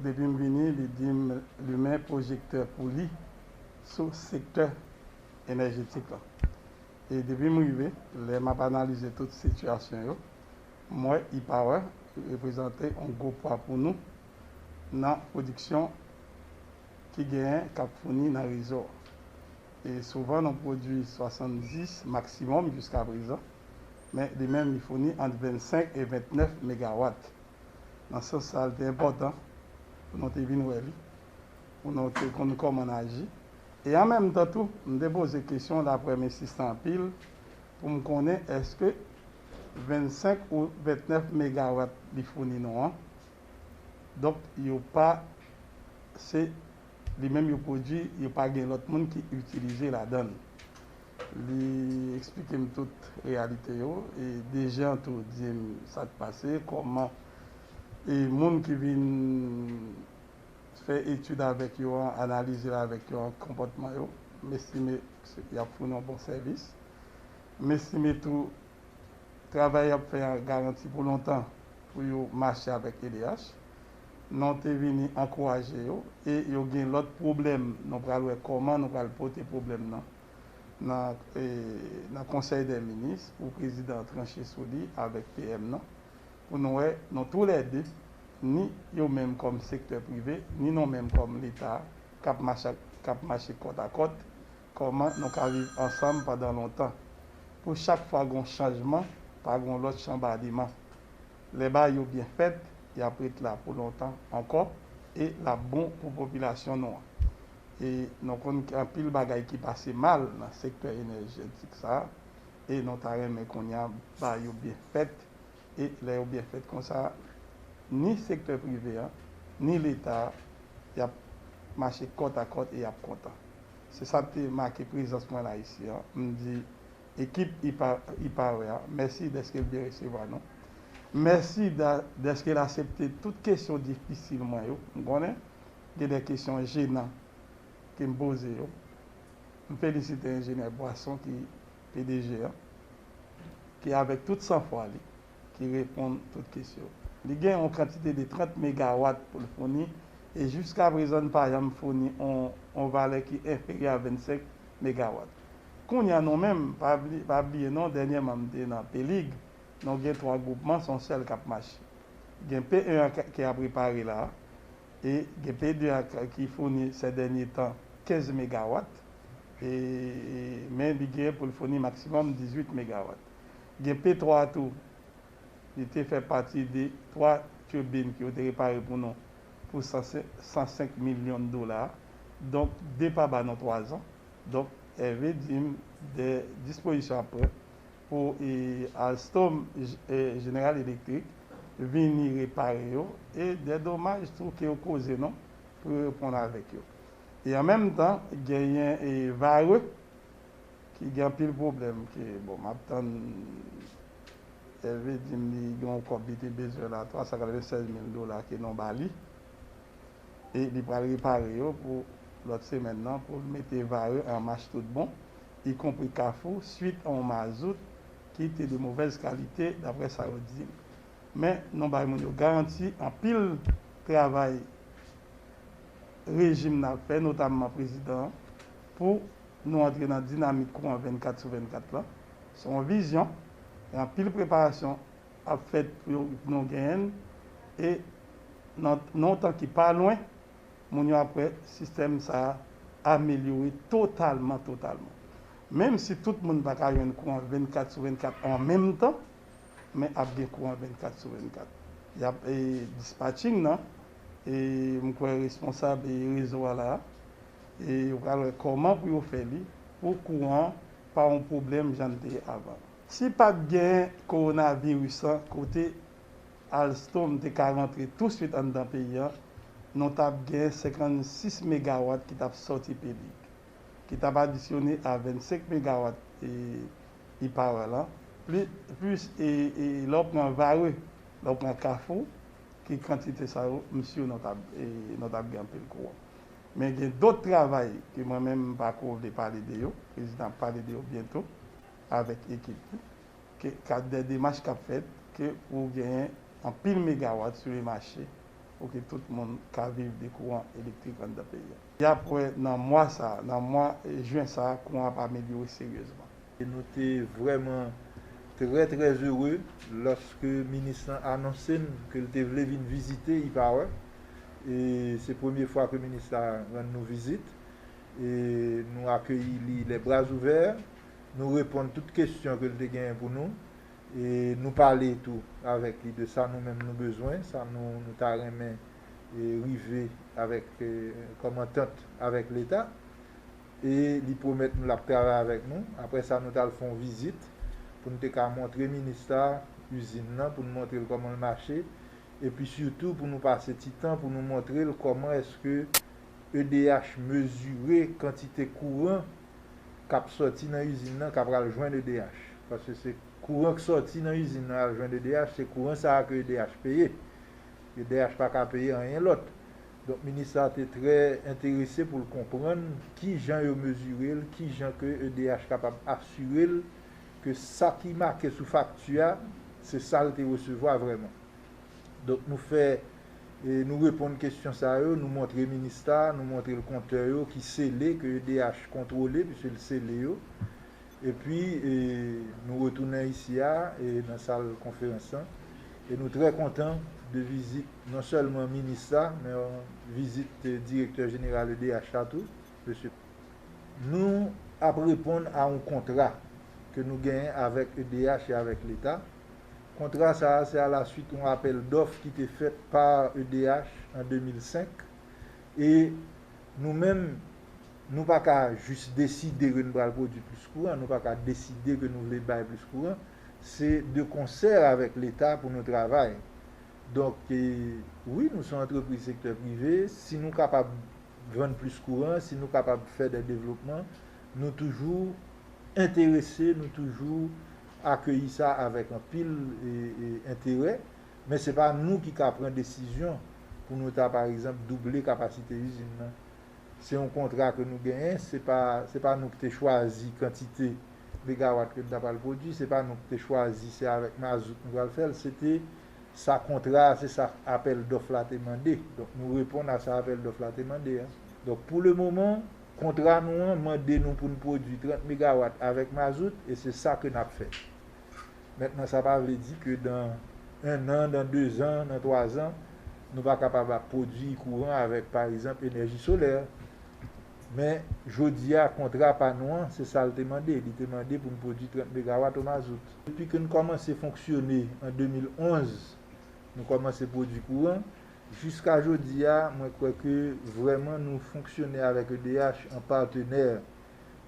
Depi m vini li di m limen pwojektè pou li sou sektè enèjetik lan. E depi m rive, lè m ap analize tout sitiyasyon yo, m wè E-Power reprezante yon gwo pwa pou nou nan pwodiksyon. ki genyen k ap founi nan rezo a. E souvan nou pwodui 70 maksimòm jiskaprezan, men li menm li founi ant 25 e 29 megawat. Nan sans sa a li te enpòtan pou nou te vin wè li, pou nou te konn kòman n aji. E an menm tan tou m te poze kesyon daprè m ensistan anpil pou m konnen èske 25 ou 29 megawat li founi nou an donk yo pa se li menm yo pwodui yo pa gen lòt moun ki itilize ladan l. Li eksplike m tout reyalite yo e Dejean tou di m sa k pase, kòman e moun ki vin fè etid avèk yo an analize l avèk yo an konpòtman yo. M estime y ap founi yon bon sèvis. M estime tou. Travay y ap fè a garanti pou lontan pou yo mache avèk edh. Non te vini ankouraje yo e yo gen lòt pwoblèm nou pral wè kòman nou pral pote pwoblèm nan nan konsèy dè minis pou prezidan an tranche sou li avèk PM nan pou nou wè nou tou lè de ni yo menm kòm sektè prive ni nou menm kòm leta k ap mache kòtakòt Kòman nou ka viv ansanm pandan lontan? Pou chak fwa gon chanjman, pa gon lòt chanbadiman. Lè bagay yo byen fèt, y ap ret la pou lontan ankò e l ap bon pou popilasyon nou an. E nou konn gen anpil bagay ki pase mal nan sektè enèjètik sa a e nou ta renmen kounye a bagay yo byen fèt e lè yo byen fèt konsa ni sektè prive an ni leta a y ap mache kòtakòt e y ap kontan. Se sa k te make prezans mwen la isi an. M di ekip IPARE a mèsi dèske l byen resevwa nou. Mèsi dèske l asepte tout kesyon difisil mwen yo. M konnen gen de kesyon jenan ke m poze yo. M felisite Enjenyè Boisson ki pdg an, ki avèk tout sanfwa li, ki reponn tout kesyon. Li gen yon kantite de 30 megawat pou l founi e jiskaprezan n pa janm founi yon valè ki enferyè a 25 megawat. Kounye a nou menm, pa bliye non dènyèman m te nan Pelig, nou gen 3 gwoupman se yon sèl k ap mache. Gen P1 an ki ap repare la e gen P2 an ki founi sè dènye tan 15 megawat e men li gen pou l founi maksimòm 18 megawat. Gen P 3 tou. Li te fè pati de 3 turbine ke yo te repare pou nou pou 105 milyon dola. Donk 2 pa ba nou 3 zan. Donk Hervé di m de dispozisyon ap pran pou Alstom General Electric vini repare yo e de domaj tou ke yo koze nou pou yo reponn avèk yo. E an menm tan genyen Vare. ki gen anpil pwoblèm ke bon map tann Hervé dim li gen yon kòb li te bezwen la 396 mil dola ke nou ba li e li pral repare yo pou lòt semèn nan poul mete Varreux an mach tout bon y konpri kafou swit a yon mazout ki te de movèz kalite daprè sa yo dim men nou bay moun yo garanti anpil travay rejim nan ap fè notamman prezidan an pou nou antre nan dinamik kouran 24 sou 24 lan. Se yon vizyon e anpil preparasyon ap fèt pou nou genyen l e nan yon tan ki pa lwen, moun yo ap wè sistèm sa a amelyore totalman totalman. Menm si tout moun pa ka jwenn kouran 24 sou 24 an menm tan, men ap gen kouran 24 sou 24. Y ap dispatching nan e m kwè responsab rezo a la a. E yo pral wè kòman pou yo fè li pou kou an pa yon pwoblèm jan li te ye avan. Si pa t gen kowonaviris lan kote Alstom te ka rantre tousuit anndan peyi an, nou t ap gen 56 megawat ki t ap sòti Pelig, ki t ap adisyone a 25 megawat E-Power lan, plis lè w pran Varreux, lè w pran Kafou, ki kantite sa yo, m si nou t ap gen anpil kouran. Men gen dot travay ke mwen menm m pa ko vle pale de yo, prezidan ap pale de yo byento avèk ekip li, ke ka dè demach k ap fèt ke pou genyen anpil megawat sou le mache pou ke tout moun ka viv de kouran elektrik anndan peyi a. Y ap wè nan mwa sa a, nan mwa jen sa a kouran ap amelyore seryezman. Nou te vrèman trè trè ere lòske minis lan anonse n ke l te vle vin vizite Iparòt. E se premye fwa ke minis la rann nou vizit. E nou akeyi li lè bra ouvè. Nou reponn tout kesyon ke l te genyen pou nou. E nou pale tou avèk li de sa nou menm nou bezwen, sa nou nou ta renmen rive avèk kòm antant avèk Leta. E li pwomèt nou l ap travay avèk nou. Apre sa, nou t al fè yon vizit pou n te ka montre minis la izin nan, pou n montre l kòman l mache. Epi sitou pou nou pase ti tan pou nou montre l kòman èske edh mezire kantite kouran k ap sòti nan izin nan k apral jwenn edh. Paske se kouran k sòti nan izin nan al jwenn edh, se kouran sa a ke edh peye. Edh pa ka peye anyen lòt. Donk minis la te trè enterese pou l konprann ki jan yo mezire l, ki jan ke edh kapab asire l ke sa ki make sou fakti a se sa l te resevwa vrèman. Donk nou fè, nou reponn kesyon sa yo, nou montre minis la, nou montre l kontè yo ki sele, ke edh kontwole, piske l sele yo. Epi, nou retounen isi a, nan sal konferans lan, e nou trè kontan de vizit non sèlman minis la, men vizit direktè jeneral edh la tou, mesye P. Nou ap reponn a yon kontra ke nou genyen avèk edh e avèk Leta. Kontra sa a se alasuit yon apèl dòf ki te fèt pa edh an 2005, e nou menm, Nou pa ka jis deside ke nou pral pwodui plis kouran, nou pa ka deside ke nou vle bay plis kouran. Se de konsè avèk Leta pou nou travay. Donk, wi nou se yon antrepriz sektè prive, si nou kapab vann plis kouran, si nou kapab fè dè devlopman, nou toujou enterese, nou toujou akeyi sa avèk anpil enterè. Men se pa nou ki ka pran desizyon pou nou ta, pa egzanp, double kapasite izin nan. Se yon kontra ke nou genyen, se pa, se pa nou ki te chwazi kantite megawatt ke nou ta pral pwodwi, se pa nou ki te chwazi se avèk mazout nou pral fè'l, se te sa kontra a, se sa apèl dòf la te mande. Donk nou reponn a sa apèl dòf la te mande a. Donk pou le moman, kontra nou an mande nou pou'n pwodwi 30 megawatt avèk mazout e se sa ke n'ap fè. Mentnan sa pa vle di ke dan 1 an, dan 2 zan, nan 3 zan, nou pa kapab ap pwodui kouran avèk pa egzanp enèji solè. Men, jodi a, kontra pa nou an, se sa l te mande. Li te mande pou n pwodui 30 megawat o mazout. Depi ke n kòmanse fonksyone an 2011, nou kòmanse pwodui kouran. Jiska jodi a, mwen kwè ke vrèman nou fonksyone avèk edh an patenè.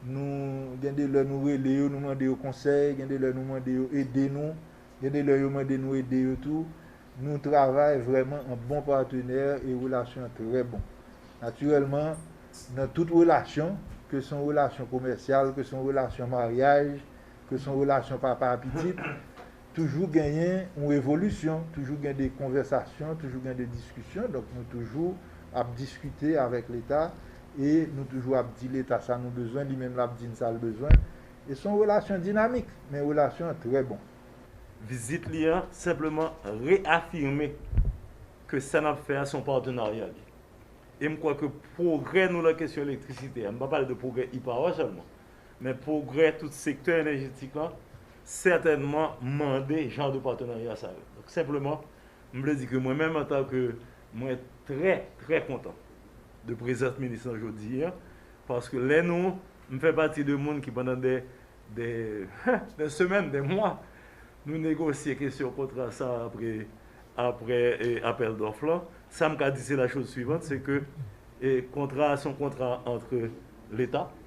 Nou gen de lè nou rele yo, nou mande yo konsèy, gen de lè nou mande yo ede nou, gen de lè yo mande nou ede yo tou. Nou travay vrèman an bon patenè e relasyon an trè bon. Natirèlman, nan tout relasyon, ke se yon relasyon komèsyal, ke se yon relasyon maryaj, ke se yon relasyon papa a pitit, Toujou genyen yon evolisyon, toujou gen de konvèsasyon, toujou gen de diskisyon. Donk nou toujou ap diskite avèk Leta e nou toujou ap di Leta sa nou bezwen, li menm l ap di n sa l bezwen. E s on relasyon dinamik, men relasyon an trè bon. Vizit li an senpleman reyafime ke sa n ap fè a s on patenarya li. E m kwè ke pwogrè nou lan kesyon elektrisite a, m pa pale de pwogrè IPAWA sèlman, Men pwogrè tout sektè enèjetik lan sètènman mande jan de patenarya sa yo. Donk senpleman, m vle di ke mwen menm antanke mwen trè, trè kontan de prezans minis lan jodi a paske lè nou, m fè pati de moun ki pandan dè, dè, dè semèn, dè mwa nou negosye kesyon kontra sa a apre, apre apèl dòf lan, sa m ka di se la chose suivante se ke kontra a se yon kontra antre leta,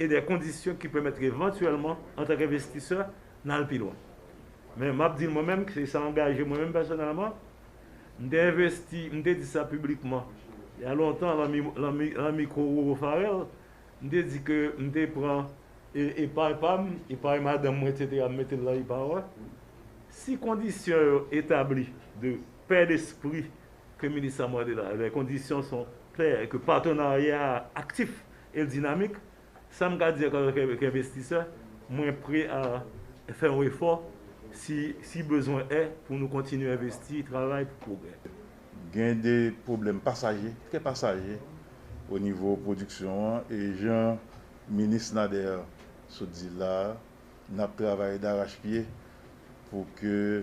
e de kondisyon ki pèmèt ke evantyèlman antanke envestisè n al pi lwen. Men m ap di mwen menm ke sa angaje mwen menm pèsonèlman, m te envesti, m te di sa piblikman il y a longtemps lan mikwo Roro Pharel, m te di ke m te pran epay pa m, epay madanm mwen eksetera m mete l lan ipawa. Si kondisyon yo etabli de pè despri ke minis sa mande la, lè kondisyon son klè e ke patenarya a aktif E dinamik, sa m ka di antanke envestisè, mwen pre a fè yon efò si bezwen è pou nou kontinye envesti, travay pou pwogrè. Gen de pwoblèm pasaje, trè pasaje o nivo pwodiksyon an e jan minis Nader sot di la a, n ap travay darachpye pou ke.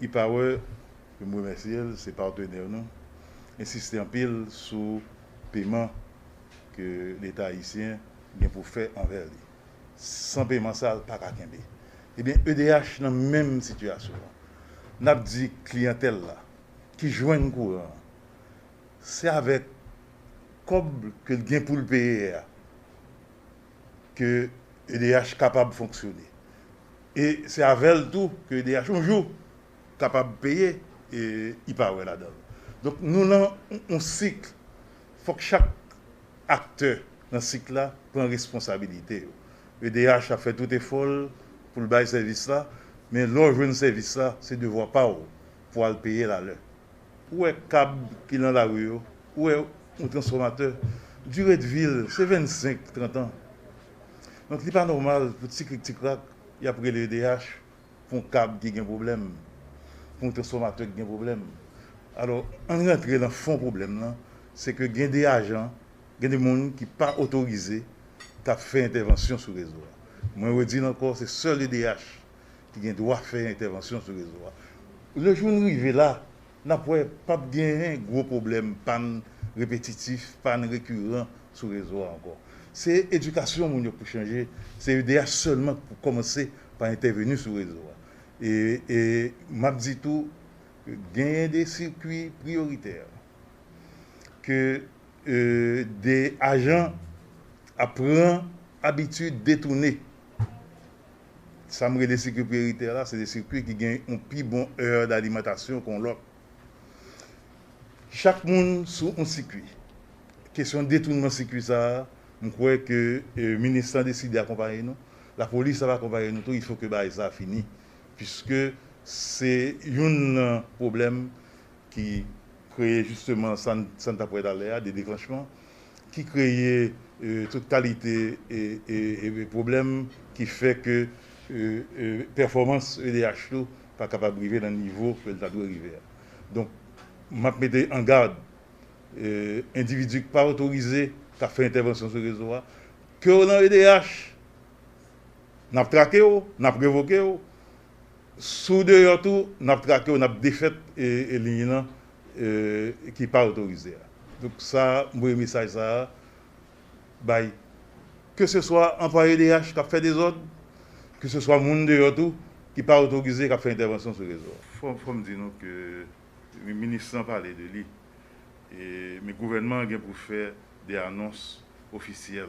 E-Power, ke m remèsye l, se patenè nou, ensiste anpil sou peman ke Leta ayisyen gen pou fè anvè li. San peman sa, l pa ka kenbe. Ebyen, edh nan menm sitiyasyon an. N ap di kliyantèl la ki jwenn kouran an, se avèk kòb ke l gen pou l peye a, ke edh kapab fonksyone e se avèl tou ke edh yon jou kapab peye li pa wè ladan l donk nou nan yon sik fòk chak aktè nan sik la pran responsabilite yo edh ap fè tout efò l pou l bay sèvis la men lè w jwenn sèvis la se devwa pa w pou al peye l alè. Ou wè kab ki nan lari yo, ou wè yon transfòmatè, dire de vi l se 25, 30 an. Donk li pa nòmal pou ti krik ti krak y ap rele edh pou yon kab ki gen pwoblèm, pou yon transfòmatè ki gen pwoblèm. Alò, ann rantre nan fon pwoblèm lan, se ke gen de ajan, gen de moun ki pa otorize k ap fè entèvansyon sou rezo a. Mwen redi l ankò, se sèl edh. ki gen dwa fè entèvansyon sou rezo a. Le jou n rive la, n ap wè p ap genyen gwo pwoblèm pàn repetitif, pàn rekiran sou rezo a ankò. Se edikasyon moun yo k pou chanje, se edh sèlman k pou kòmanse pa entèveni sou rezo a. E m ap di tou, genyen de sikui priyoritè ke de ajan ap pran abitid detoune. Sa m rele sikui priyoritè la, se de sikui ki gen yon pi bon èr dalimantasyon ke yon lòt. Chak moun sou yon sikui. Kesyon detounman sikui sa a, m kwè ke minis lan deside akonpaye nou, lapolis ap akonpaye nou tou, ilfo ke bagay sa a fini. Piske se youn nan pwoblèm. ki kreye jisteman sa n t ap wè talè a, de deklanchman, ki kreye tout kalite pwoblèm ki fè ke pèfòmans edh tou pa kapab rive nan nivo ke l ta dwe rive a. Donk, m ap mete an gad endividi k pa otorize k ap fè entèvansyon sou rezo a, ke w nan edh, n ap trake w, n ap revoke w, Si w deyò tou, n ap trake w, n ap defèt liy lan ki pa otorize a. Donk sa m voye mesaj sa a bay ke se swa anplwaye DH k ap fè dezòd, ke se swa moun deyò tou ki pa otorize k ap fè entèvansyon sou rezo a. Fò m di nou ke minis lan pale de li, men gouvènman an gen pou fè de anons ofisyèl.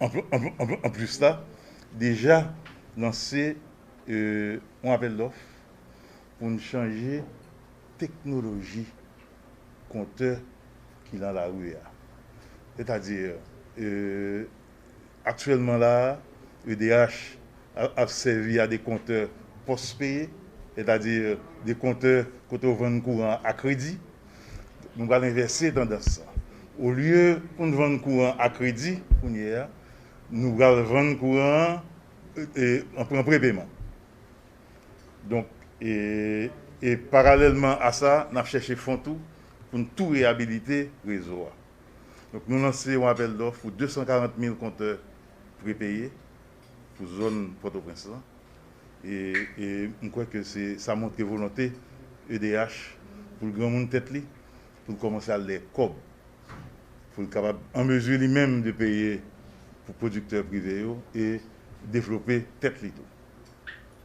Anplis la deja lanse yon apèl dòf pou n chanje teknoloji kontè ki nan lari a. Sètadi aktyèlman la edh ap sèvi a dekontè pòspeye, sètadi dekontè kote ou vann kouran an a kredi. Nou pral envèse tandans lan. Olye pou n vann kouran an a kredi kounye a, nou pral vann kouran an an pran prepeman. Donk, e paralèlman a sa, n ap chèche fon tou pou n tou reyabilite rezo a. Donk, nou lanse yon apèl dòf pou 240 mil kontè prepeye. pou zòn Pòtoprens lan e m kwè ke se sa montre volonte edh pou l granmoun tèt li, pou l kòmanse al dèyè kòb, pou l kapab an mezi li menm de peye pou pwodiktè prive yo e devlope tèt li tou.